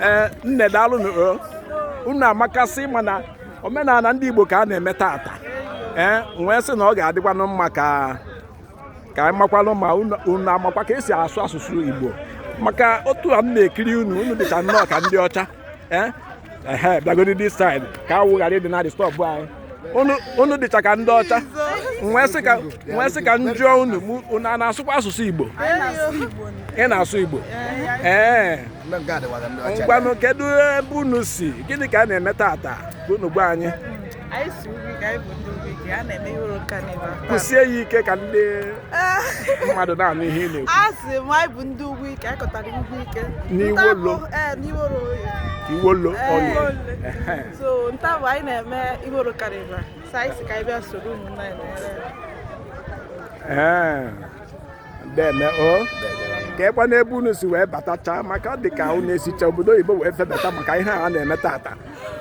ee eh, nne daalụ eh, unu amakasị mana omenala ndị Igbo ka a na-eme tata ee eh, m wee sị na ọ ga-adịkwanụ mma ka ka anyị makwanụ ma unu amakwa ka esi asụ asụsụ Igbo maka otu a m na-ekiri unu unu dịcha nnọọ ka ndị ọcha ee ehe bịagodi this side ka anwụ ghara ịdị na-disturb anyị unu unu dịcha ka ndị ọcha m wee sị ka m wee sị ka m jụọ unu mụ- unu a na-asụkwa asụsụ igbo ị na-asụ igbo ee ngwanụ kedu ebe unu si gịnị ka a na-eme tata ka unu gwa anyị anyị si ugwu ike anyị bụ ndị ugwu ike a na-eme Iwolo carnival kwụsie ya ike ka ndị mmadụ na-anụ ihe ị na-ekwu a sị m anyị bụ ndị ugwu ike anyị kọtara ugwu ike N'iwolo. Ndị abụ- ee n'iwolo oyi iwolo ọlụ so nta bụ anyị na-eme Iwolo carnival so anyị sị ka anyị bịa soro ụmụnna anyị na-ere ee deme o kekwanụ ebe unu si wee batacha maka ọ dị ka unu esicha obodo oyibo wee febata maka ihe a na-eme tata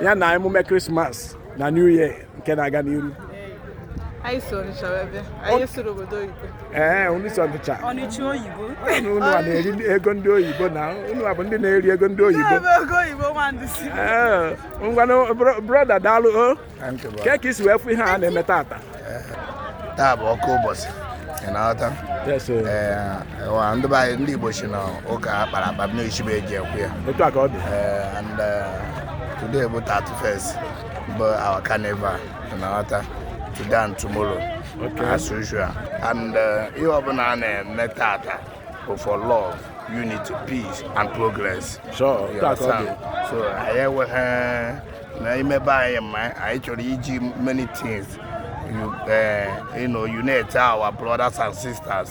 ya na emume krismas na new year nke na-aga n'iru anyị si Onitsha wee bịa anyị esirọ obodo oyibo ee unu si Onitsha Onitsha oyibo unu a na-eri ego ndị oyibo na unu a bụ ndị na-eri ego ndị oyibo ego oyibo ngwanụ broda daalụ o oh. kee ka i si wee fụ ihe a na-eme tata taa bụ oke ụbọchị ị na-aghọta ndị be anyị ndị Igbo sị na ụka akpara akpa na isi be eji ekwe ya otu a ka ọ dị and uh, today bụ 31st bụ our carnival na-aghọta today and tomorrow as usual and uh, ihe ọbụla a na-eme tata bụ for love unity peace and progress Sure, You that's understand? okay. so anyị enweghị na ime be anyị ma anyị chọrọ iji many things you, uh, you know, unite our brothers and sisters